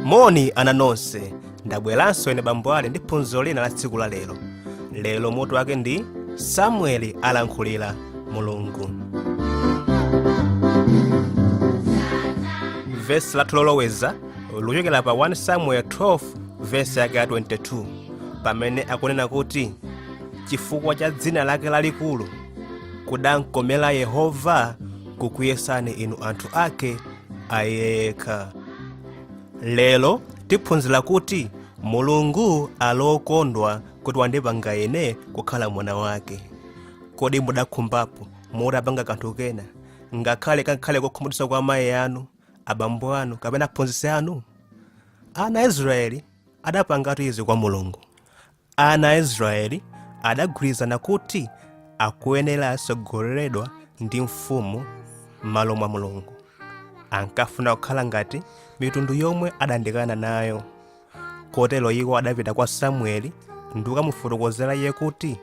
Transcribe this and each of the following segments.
moni ana nonse ndabweranso ine bambo ali ndi phunziro lina la tsiku la lero lero mutu wake ndi samueli alankhulira mulungu vesi lathu loloweza likuchokera pa 1 samuel 12 vesi yake ya 22 pamene akunena kuti chifukwa cha dzina lake lalikulu kudamkomera yehova kukuyesani inu anthu ake ayekha lero tiphunzira kuti mulungu ali okondwa kuti wandipanga ine kukhala mwana wake kodi mudakhumbapo mutapanga kanthu kena ngakhale kakhale kokhumudwitsa kwa amayi anu abambo anu kapena aphunzitsi anu ana a israeli adapangatu izi kwa mulungu Ana a Israeli adagwirizana kuti akuyenera atsogoleredwe ndi mfumu m'malo mwa Mulungu. Ankafuna kukhala ngati mitundu yomwe adayandikana nayo. Kotero iwo adapita kwa Samueli ndi kukamufotokozera iye kuti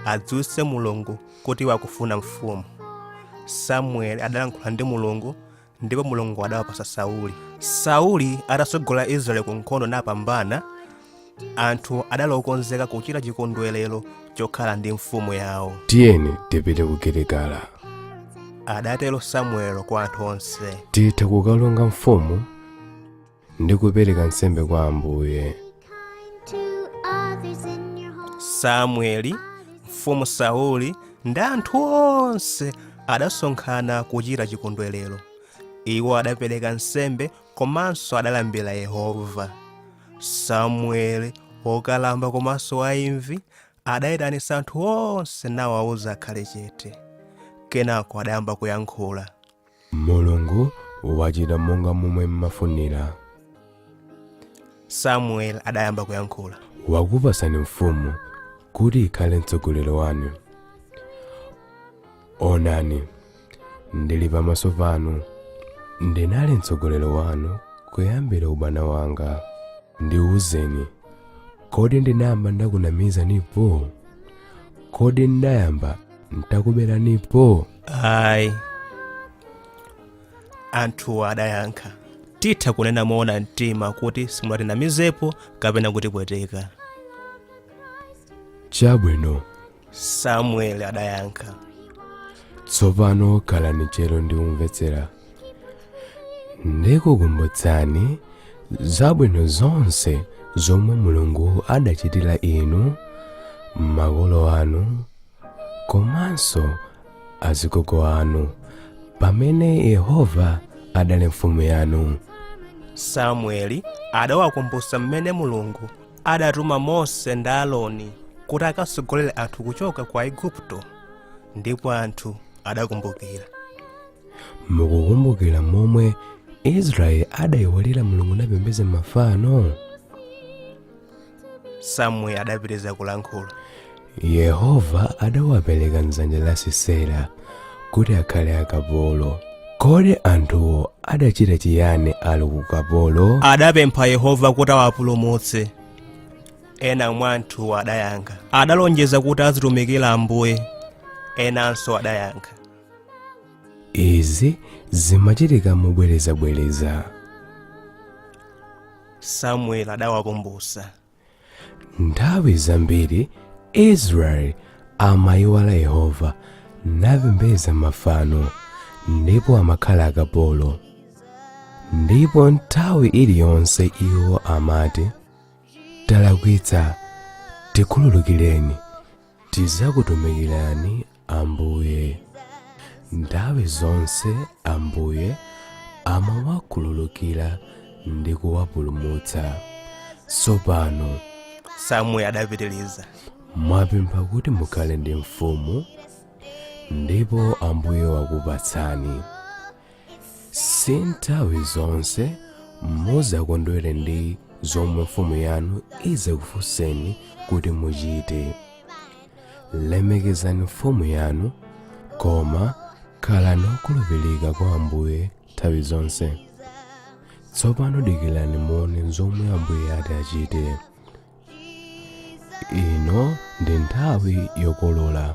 adziwitse Mulungu kuti iwo akufuna mfumu. Samueli adalankhula ndi Mulungu ndipo mulungu adawapatsa sauli sauli atatsogola israeli ku nkhondo napambana anthu adali okonzeka kuchita chikondwerero chokhala ndi mfumu yawo tiyeni tipite ku giligala adatero samueli kwa anthu onse titha kukalonga mfumu ndi kupereka nsembe kwa ambuye samueli mfumu sauli ndi anthu onse adasonkhana kuchita chikondwerero iwo adapereka nsembe komanso adalambira yehova samueli wokalamba komanso waimvi adayitanitsa anthu onse nawawuza akhale chete kenako adayamba kuyankhula Mulungu wachita monga momwe mmafunira. Samueli adayamba kuyankhula. Wakupatsani mfumu kuti ikhale mtsogoleri wanu. Onani, ndili pamaso panu, ndinali mtsogoleri wanu kuyambira ubwana wanga. Ndiwuzeni, kodi ndinayamba ndakunamizanipo? Kodi ndayamba ndakuberanipo? ayi anthu adayankha titha kunena moona mtima kuti simunatinamizepo kapena kutipweteka chabwino samueli adayankha tsopano khalani tcheru ndi kumvetsera ndikukumbutsani zabwino zonse zomwe mulungu adachitira inu makolo anu komanso azigogo anu pamene yehova adali mfumu yanu samueli adawakumbutsa mmene mulungu adatuma mose ndi aroni kuti akatsogolere anthu kuchoka ku aigupto ndipo anthu adakumbukira mukukumbukira momwe israeli adayiwalira mulungu napembedza mafano samueli adapitiriza kulankhula yehova adawapereka m'dzanja la sisera kuti akhale akapolo kodi anthuwo adachita chiyani ali ku kapolo adapempha yehova kuti awapulumutse ena mwa anthuwo adayankha adalonjeza kuti azitumikira ambuye enanso adayankha izi zimachitika mobwerezabwereza samueli adawakumbutsa nthawi zambiri israeli amayiwala yehova napembedza mafano ndipo amakhala akapolo ndipo nthawi iliyonse iwo amati talakwitsa tikhululukireni tidzakutumikirani ambuye nthawi zonse ambuye amawakhululukira ndi kuwapulumutsa tsopano samueli adapitiriza mwapempha kuti mukhale ndi mfumu ndipo ambuye wakupatsani si nthawi zonse muzakondwere ndi zomwe mfumu yanu izakufunseni kuti muchite lemekezani mfumu yanu koma khalani okhulupirika kwa ambuye nthawi zonse tsopano dikirani muone zomwe ambuye ati achite ino ndi nthawi yokolola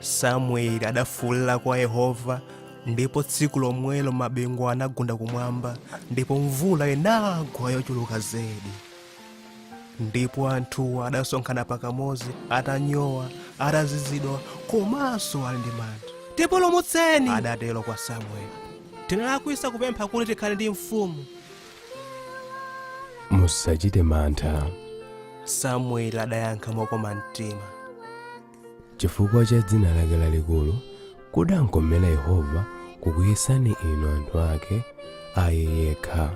samueli adafuulira kwa yehova ndipo tsiku lomwelo mabingu anagunda kumwamba ndipo mvula inagwa yochuluka zedi ndipo anthuwo adasonkhana pakamodzi atanyowa atazizidwa komanso ali ndi mantha tipulumutseni adatero kwa samueli tinalakwisa kupempha kuti tikhale ndi mfumu musachite mantha samueli adayankha mokoma mtima chifukwa cha dzina lake lalikulu kudankomera yehova kukuyesani inu anthu ake a iye yekha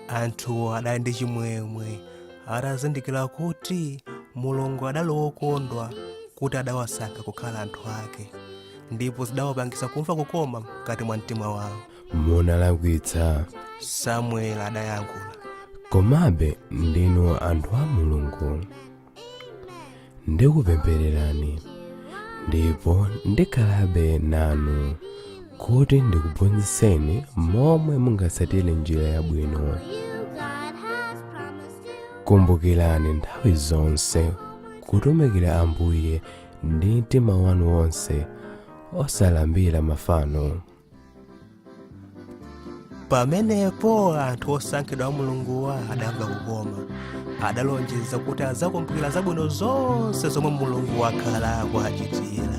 anthuwo adali ndi chimwemwe atazindikira kuti mulungu adali wokondwa kuti adawasankha kukhala anthu ake ndipo zidawapangitsa kumva kukoma mkati mwa mtima wawo munalakwitsa samueli adayankhula komabe ndinu anthu a mulungu ndikupemphererani ndipo ndikhalabe nanu kuti ndikuphunzitseni momwe mungatsatire njira yabwino kumbukirani nthawi zonse kutumikira ambuye ndi mtima wanu wonse osalambira mafano pamenepo anthu osankhidwa a mulunguwa adamva kukoma adalonjeza kuti adzakumbukira zabwino zonse zomwe mulungu wakhala akuwachitira